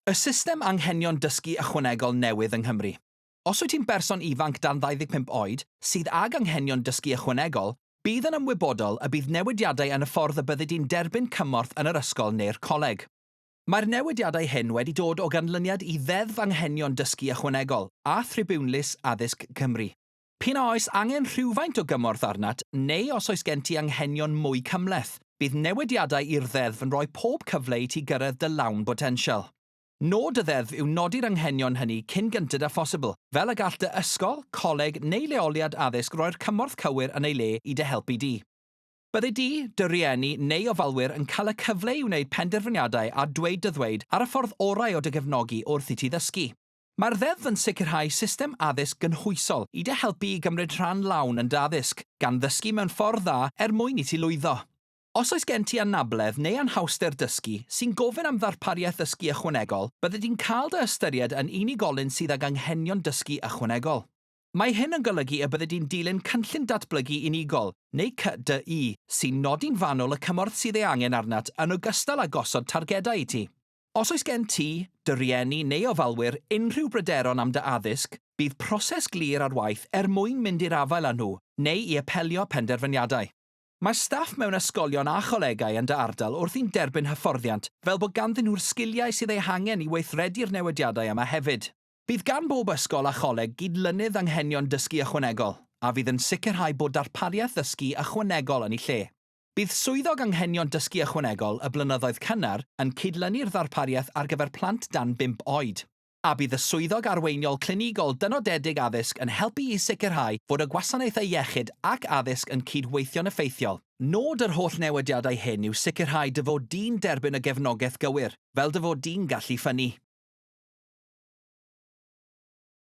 Y system anghenion dysgu ychwanegol newydd yng Nghymru. Os wyt ti'n berson ifanc dan 25 oed sydd ag anghenion dysgu ychwanegol, bydd yn ymwybodol y bydd newidiadau yn y ffordd y byddi di'n derbyn cymorth yn yr ysgol neu'r coleg. Mae'r newidiadau hyn wedi dod o ganlyniad i Ddeddf Anghenion Dysgu Ychwanegol a Thribiwnlys Addysg Cymru. P'un a oes angen rhywfaint o gymorth arnat neu os oes gen ti anghenion mwy cymhleth, bydd newidiadau i'r Ddeddf yn rhoi pob cyfle i ti gyrraedd dy lawn botensial. Nod y Ddeddf yw nodi'r anghenion hynny cyn gynted â phosibl, fel y gall dy ysgol, coleg neu leoliad addysg roi'r cymorth cywir yn ei le i dy helpu di. Byddi di, dy rieni neu ofalwyr yn cael y cyfle i wneud penderfyniadau a dweud dy ddweud ar y ffordd orau o dy gefnogi wrth i ti ddysgu. Mae'r Ddeddf yn sicrhau system addysg gynhwysol i dy helpu i gymryd rhan lawn yn dy addysg, gan ddysgu mewn ffordd dda er mwyn i ti lwyddo. Os oes gen ti anabledd neu anhawster dysgu sy'n gofyn am ddarpariaeth ddysgu ychwanegol, byddet ti'n cael dy ystyried yn unigolyn sydd ag anghenion dysgu ychwanegol. Mae hyn yn golygu y byddet ti'n dilyn Cynllun Datblygu Unigol, neu CDU, sy'n nodi'n fanwl y cymorth sydd ei angen arnat yn ogystal â gosod targedau i ti. Os oes gen ti, dy rieni neu ofalwyr unrhyw bryderon am dy addysg, bydd proses glir ar waith er mwyn mynd i'r afael â nhw neu i apelio penderfyniadau. Mae staff mewn ysgolion a cholegau yn dy ardal wrthi'n derbyn hyfforddiant fel bod ganddyn nhw'r sgiliau sydd eu hangen i weithredu'r newidiadau yma hefyd. Bydd gan bob ysgol a choleg gydlynydd anghenion dysgu ychwanegol, a fydd yn sicrhau bod darpariaeth ddysgu ychwanegol yn ei lle. Bydd Swyddog Anghenion Dysgu Ychwanegol y blynyddoedd cynnar yn cydlynu'r ddarpariaeth ar gyfer plant dan bump oed, a bydd y Swyddog Arweiniol Clinigol Dynodedig Addysg yn helpu i sicrhau fod y Gwasanaethau Iechyd ac Addysg yn cyd-weithio'n effeithiol. Nod yr holl newidiadau hyn yw sicrhau dy fod di'n derbyn y gefnogaeth gywir, fel dy fod di'n gallu ffynnu.